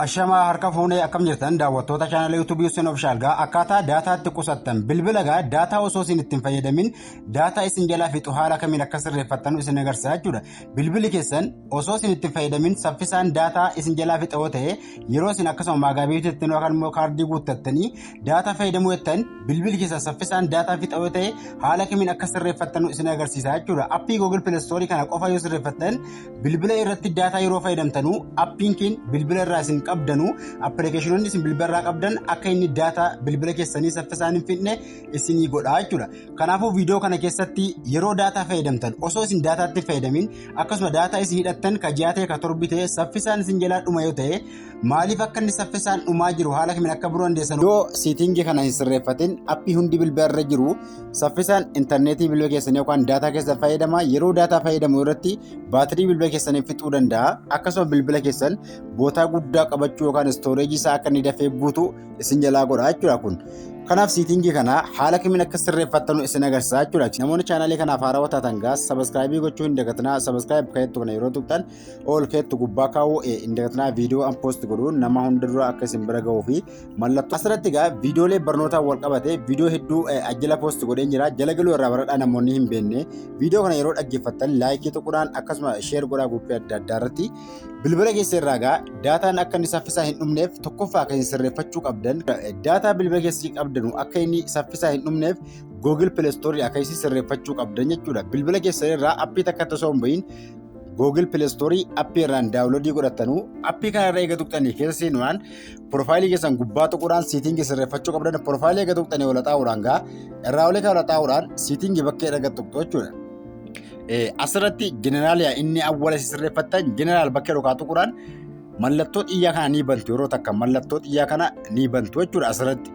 Ashamaa harka fuunee akkam jirtan daawwattoota chaanala YouTube Yuusin Ofishaal gaa akkaataa daataa itti qusattan bilbila gaa daataa osoo isin ittiin fayyadamin daataa isin jalaa fixu haala kamiin akka sirreeffattan isin agarsiisa jechuudha. Bilbili keessan osoo isin ittiin fayyadamin saffisaan daataa isin jalaa fixa yoo ta'e yeroo isin akkasuma maagaabiitii ittiin yookaan immoo kaardii guuttattanii daataa fayyadamuu jettan bilbili keessan saffisaan daataa fixa yoo ta'e haala kamiin akka sirreeffattan isin agarsiisa jechuudha. Appii Google Play Store kana qofa yoo sirreeffattan Bilbila irratti daataa yeroo fayyadamtanu appiin keen bilbila irraa isin qabdanu appilikeeshinoonni isin bilbila irraa qabdan akka inni daataa bilbila keessanii saffisaan hin fixne isinii godha jechuudha. Kanaafuu viidiyoo kana keessatti yeroo daataa fayyadamtan osoo isin daataatti fayyadamin akkasuma daataa isin hidhattan ka ji'aa ta'e ka torbi ta'e saffisaan isin jalaa dhuma yoo ta'e maaliif akka inni saffisaan dhumaa jiru haala kamiin akka biroo dandeessan yoo siitingii kana hin sirreeffatin appii hundi bilbila irra jiru saffisaan intarneetii bilbila keessanii yookaan daataa keessan fayyadama yeroo daataa fayyadamu irratti baatirii bilbila keessanii fixuu danda'a akkasuma bilbila keessan bootaa guddaa qabachuu yookaan istooreejii isaa akka inni dafee guutu isin jalaa godha jechuudha kun. Kanaaf siitingii kana haala kamiin akka sirreeffattanu isin agarsiisa jechuudha. Namoonni chaanaalii kanaaf haarawaa taatan gaas sabaskiraayibii gochuu hin dagatinaa sabaskiraayib keettu kana yeroo tuqxan ol keettu gubbaa kaa'uu hin dagatinaa viidiyoo an poost godhuun nama hunda dura akka isin bira ga'uu fi mallattoo asirratti egaa viidiyoolee barnootaa wal qabate viidiyoo hedduu ajjala poost godheen jira jala galuu irraa baradhaa namoonni hin beekne viidiyoo kana yeroo dhaggeeffattan laayikii tuqudhaan akkasuma sheer godhaa guuppii adda addaa irratti bilbila keessa irraa egaa daataan akka inni saffisaa hin dhumneef tokkoffaa akka isin sirreeffachuu qabdan daataa bilbila keessatti qabdanu akka inni saffisaa hin dhumneef Google Play Store akka isin sirreeffachuu qabdan jechuudha bilbila keessa irraa appii takka osoo hin bahin Google Play Store appii irraan daawunloodii godhatanu appii kana irra eega tuqxanii keessa seenuudhaan Porofaayilii keessan gubbaa tuquudhaan siitingii sirreeffachuu qabdan porofaayilii eega tuqxanii ol haxaa'uudhaan gaa irraa olii kan ol haxaa'uudhaan siitingii bakkee erga tuqxu jechuudha. Asirratti jeneraaliyaa inni awwala sirreeffattan jeneraal bakkee dhugaa tuquudhaan mallattoo xiyyaa kana ni bantu yeroo takka mallattoo xiyyaa kana ni bantu jechuudha asirratti.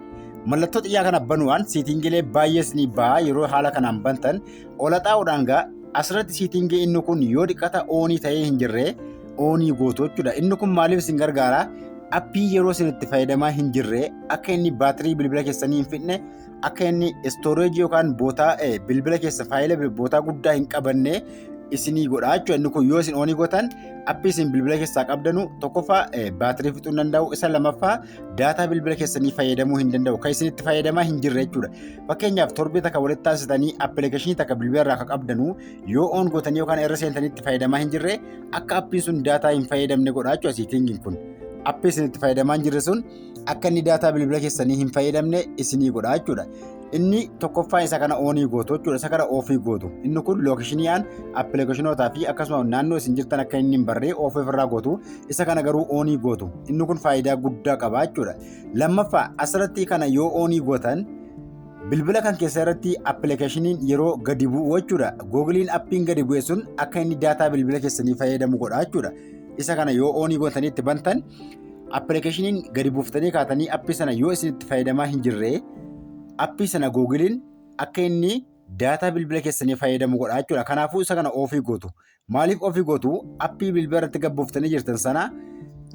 Mallattoo xiyyaa kana banuudhaan siitingilee baay'ees ni ba'a yeroo haala kanaan bantan Olaxaa'uudhaan gaa asirratti siitingii inni kun yoo dhiqata oonii ta'ee hin jirre oonii gootu jechuudha. Inni kun maaliif isin gargaara? Appii yeroo isin itti fayyadamaa hin jirre akka inni baatirii bilbila keessanii hin fixne akka inni istooreejii yookaan bootaa bilbila keessa faayila bootaa guddaa hin qabanne isinii godha jechuudha. Inni kun yoo isin oonii gootan appii isin bilbila keessaa qabdanu tokkoffaa baatirii fixuu hin danda'u isa lamaffaa daataa bilbila keessanii fayyadamuu hin danda'u. Kan isin itti fayyadamaa hin jirre jechuudha. Fakkeenyaaf torbee takka walitti taasisanii appilikeeshinii takka bilbila irraa akka qabdanu yoo oon gootanii yookaan irra seentanii itti fayyadamaa hin jirre akka appiin sun daataa hin fayyadamne godha jechuudha siitingiin kun. Appii isin itti fayyadamaa hin jirre sun akka inni daataa bilbila keessanii hin fayyadamne isinii godha jechuudha. Inni tokkoffaa isa kana oonii gootu jechuudha. Isa kana oofii gootu. Inni kun lookishiniidhaan appilikeeshinootaa fi akkasuma naannoo isin jirtan akka inni hin barree oofii ofirraa gootu. Isa kana garuu oonii gootu. Inni kun faayidaa guddaa qaba jechuudha. Lammaffaa asirratti kana yoo oonii gootan bilbila kan keessa irratti appilikeeshiniin yeroo gadi bu'u jechuudha. Googiliin appiin gadi bu'e sun akka inni daataa bilbila keessanii fayyadamu godha jechuudha. Isa kana yoo oonii gootanii itti bantan Appilikeeshiniin gadi buuftanii kaatanii appii sana yoo isin itti fayyadamaa hin jirre appii sana googiliin akka inni daataa bilbila keessanii fayyadamu godha jechuudha. Kanaafuu isa kana ofii gootu. Maaliif ofii gootu appii bilbila irratti gadi buuftanii jirtan sana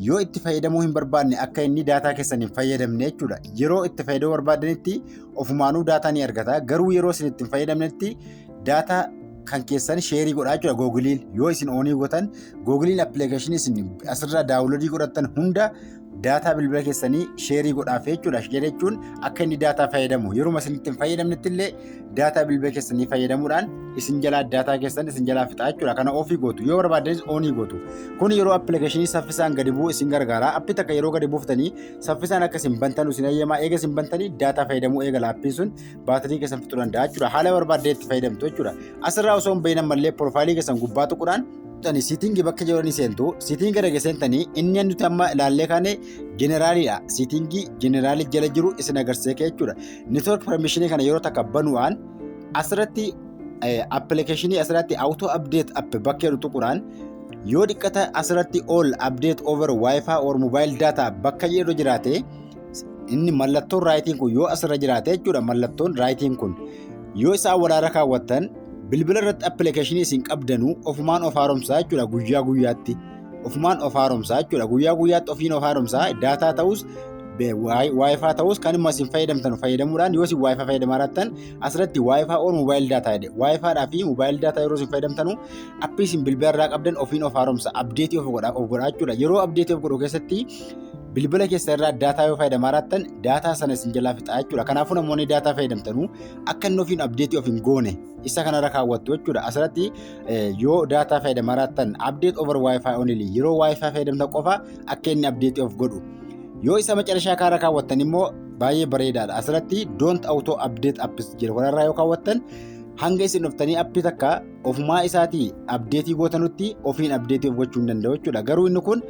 yoo itti fayyadamuu hin barbaadne akka inni daataa keessan hin fayyadamne jechuudha. Yeroo itti fayyadamuu barbaadanitti ofumaanuu daataa ni argata. Garuu yeroo isin itti hin fayyadamnetti Daataa kan keessan sheerii godhaa jira googiliin yoo isin oonii gotan googiliin appilikeeshinii isin asirraa daawunloodii godhattan hunda daataa bilbila keessanii sheerii godhaaf jechuudha. Sheerii jechuun akka inni daataa fayyadamu yeruma isin ittiin fayyadamnetti illee daataa bilbila keessanii fayyadamuudhaan isin jalaa daataa keessan isin jalaa fixaa jechuudha. Kana ofii gootu yoo barbaaddanis oonii gootu. Kun yeroo appilikeeshinii saffisaan gadi bu'u isin gargaara. Appii takka yeroo gadi buuftanii saffisaan akka isin bantan isin eeyyama. Eega isin bantanii daataa fayyadamuu eegala appiin sun. baatirii keessan fixuu danda'a jechuudha. Haala barbaadde itti fayyadamtu jechuudha. Asirraa osoo hin bahin ammallee piroofaayilii keessan gubbaa tuquudhaan tani siitingi bakka jiranii seentu siitingi gara geessentanii inni nuti amma ilaallee kaane jeneraalidha. Siitingi jeneraalii jala jiru isin agarsiisee jechuudha. Neetwoork permishinii kana yeroo takka banuudhaan asirratti appilikeeshinii asirratti awutoo abdeet app bakka jedhu tuquudhaan yoo dhiqqata asirratti all update over wifi or mobile data bakka jedhu jiraate inni mallattoon raayitiin kun yoo asirra jiraate jechuudha mallattoon raayitiin kun yoo isaa waraara kaawwattan bilbila irratti appilikeeshinii isin qabdanuu ofumaan of haaromsaa jechuudha guyyaa guyyaatti ofumaan of haaromsaa jechuudha guyyaa guyyaatti ofiin of haaromsaa daataa ta'us waayifaa ta'us kan immoo isin fayyadamtan fayyadamuudhaan yoo isin waayifaa fayyadamaa jirtan asirratti waayifaa oon moobaayil daataa jedhe waayifaadhaa fi moobaayil daataa yeroo isin fayyadamtanu appii isin bilbila irraa qabdan ofiin of haaromsa abdeetii of godhaa jechuudha yeroo abdeetii of godhu keessatti bilbila keessa irraa daataa yoo fayyadamaa jiraattan daataa sana isin jalaa fixaa jechuudha. Kanaafuu namoonni daataa fayyadamtanu akka inni ofiin abdeetii of hin goone isa kanarra kaawwattu jechuudha. Asirratti yoo daataa fayyadamaa jiraattan abdeet over wifi only yeroo wifi fayyadamtan qofa akka inni abdeetii of godhu. Yoo isa macarashaa kaarra kaawwattan immoo baay'ee bareedaadha. Asirratti don't auto update apps jedhu kanarraa yoo kaawwattan hanga isin dhuftanii appii takka ofumaa isaatii abdeetii gootanutti ofiin abdeetii of gochuu hin danda'u jechuudha. Garuu inni kun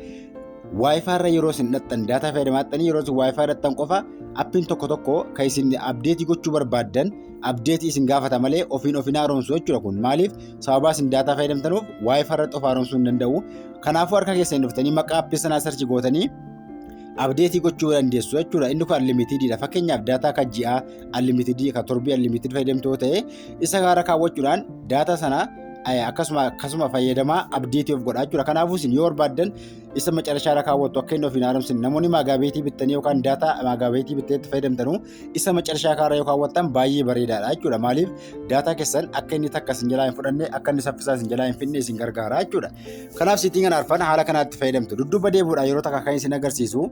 Wi-Fi irra yeroo isin dhaqxan daataa fayyadamaattanii yeroo isin Wi-Fi dhaqxan qofa appiin tokko tokko kan isin abdeetii gochuu barbaaddan abdeetii isin gaafata malee ofiin ofiin haaromsu jechuudha kun maaliif sababaa isin daataa fayyadamtanuuf Wi-Fi irratti of haaromsuu hin danda'u kanaafuu harka keessan dhuftanii maqaa appii sanaa sarchi gootanii abdeetii gochuu dandeessu jechuudha inni kun unlimitedidha fakkeenyaaf daataa kan ji'aa unlimited kan torbii unlimited fayyadamtu yoo ta'e isa gaara kaawwachuudhaan daataa sana akkasuma akkasuma fayyadamaa abdeetii of godhaa jechuudha kanaafuu isin yoo barbaaddan isa macarashaa irra kaawwattu akka inni of hin haaromsine namoonni maagaabeetii bittanii yookaan daataa maagaabeetii bittee itti fayyadamtanuu isa macarashaa kaarra yoo kaawwattan baay'ee bareedaadha jechuudha maaliif daataa keessan akka inni takka isin jalaa hin fudhanne akka inni saffisaa isin jalaa hin fidne isin gargaara jechuudha kanaaf siitiin kana arfan haala kanaatti fayyadamtu dudduuba deebi'uudhaan yeroo takka kan isin agarsiisu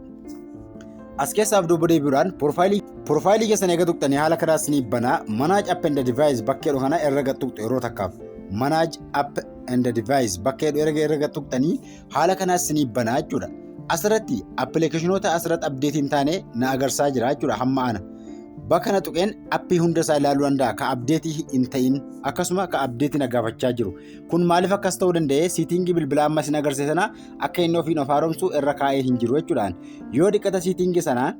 as keessaaf dudduuba deebi'uudhaan profaayilii profaayilii keessan eega tuqxanii haala kanaa isin banaa manaaj app and device bakkeedha kana irra tuqxu yeroo takkaaf manaaj app and device bakka jedhu erga erga tuqxanii haala kanaas isiniif banaa jechuudha. Asirratti appilikeeshinoota asirratti abdeetii hin taane na agarsaa jira jechuudha hamma ana. Bakka na tuqeen appii hunda isaa ilaaluu danda'a ka abdeetii hin ta'in akkasuma ka abdeetii na gaafachaa jiru. Kun maaliif akkas ta'uu danda'e siitingii bilbilaa amma isin agarsiise sana akka inni ofiin of haaromsu irra kaa'ee hin jiru jechuudhaan. Yoo dhiqata siitingii sanaa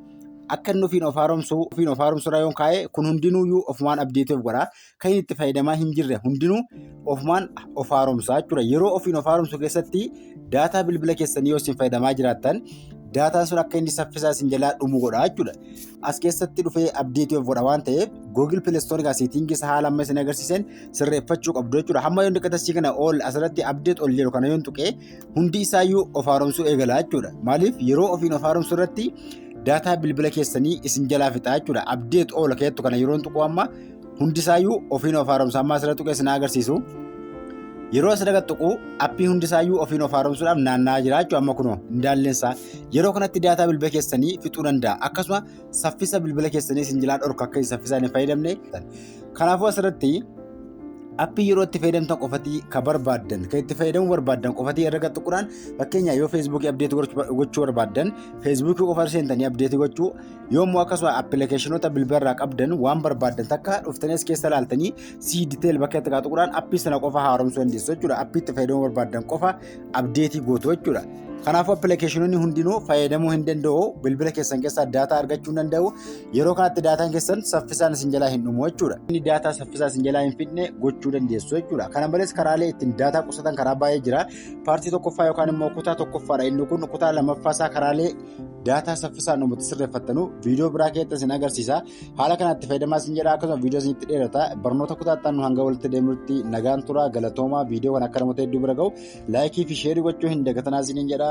akka inni ofiin of haaromsu ofiin of haaromsu irra yoon kaa'e kun hundinuuyyuu ofumaan abdeetii of godha. kan inni itti fayyadamaa hin jirre hundinuu ofumaan of haaromsaa jechuudha. Yeroo ofiin of haaromsu keessatti daataa bilbila keessanii yoo isin fayyadamaa jiraattan daataan sun akka inni saffisaa isin jalaa dhumu godha jechuudha. As keessatti dhufee abdeetii of godha waan ta'eef Google Play Store gaa seetiingii isaa haala amma isin agarsiisan sirreeffachuu qabdu jechuudha. Hamma yoon dhiqatasii kana ol asirratti abdeet ol jedhu kana yoon tuqee hundi isaayyuu of haaromsuu eegala jechuudha. Maaliif yeroo ofiin of haaromsu irratti daataa bilbila keessanii isin jalaa fixaa jechuudha. Abdeet ol keettu kana yeroon tuquu amma hundisaayyuu ofiin of haaromsa amma asirra tuqee sinaa agarsiisu yeroo asirra tuqu appii hundisaayyuu ofiin of haaromsuudhaaf naanna'aa jira jechuudha amma kunoo indaalleensaa yeroo kanatti daataa bilbila keessanii fixuu danda'a akkasuma saffisa bilbila keessanii isin jalaa dhorka akka saffisaan hin fayyadamne kanaafuu asirratti appii yeroo itti fayyadamtan qofatii ka barbaaddan kan itti fayyadamuu barbaaddan qofatii irra tuquudhaan fakkeenyaaf yoo feesbuukii abdeetii gochuu barbaaddan feesbuukii qofa seentanii abdeetii gochuu yoommoo akkasuma appilikeeshinoota bilbila irraa qabdan waan barbaaddan takka dhuftanii as keessa ilaaltanii sii diteeyil bakka itti qaatu quraan appii sana qofa haaromsuu dandeessu jechuudha appii itti fayyadamuu barbaaddan qofa abdeetii gootu jechuudha. Kanaafuu appilikeeshinoonni hundinuu fayyadamuu hin danda'u bilbila keessan keessaa daataa argachuu hin danda'u yeroo kanatti daataan keessan saffisaan isin jalaa hin dhumu jechuudha. Inni daataa saffisaa isin jalaa hin fidne gochuu dandeessu jechuudha. Kana malees karaalee ittiin daataa qusatan karaa baay'ee jira. Paartii tokkoffaa yookaan immoo kutaa tokkoffaadha inni kun kutaa lammaffaa isaa karaalee daataa saffisaan uummatni sirreeffattanu viidiyoo biraa keessatti isin agarsiisa haala kanatti fayyadamaa isin jedha akkasuma viidiyoo isinitti dheerata barnoota kutaattaan hanga walitti deemutti nagaan turaa galatoomaa viidiyoo kan akka namoota hedduu bira gahu laayikii fi sheerii gochuu hin dagatanaa isiniin jedha.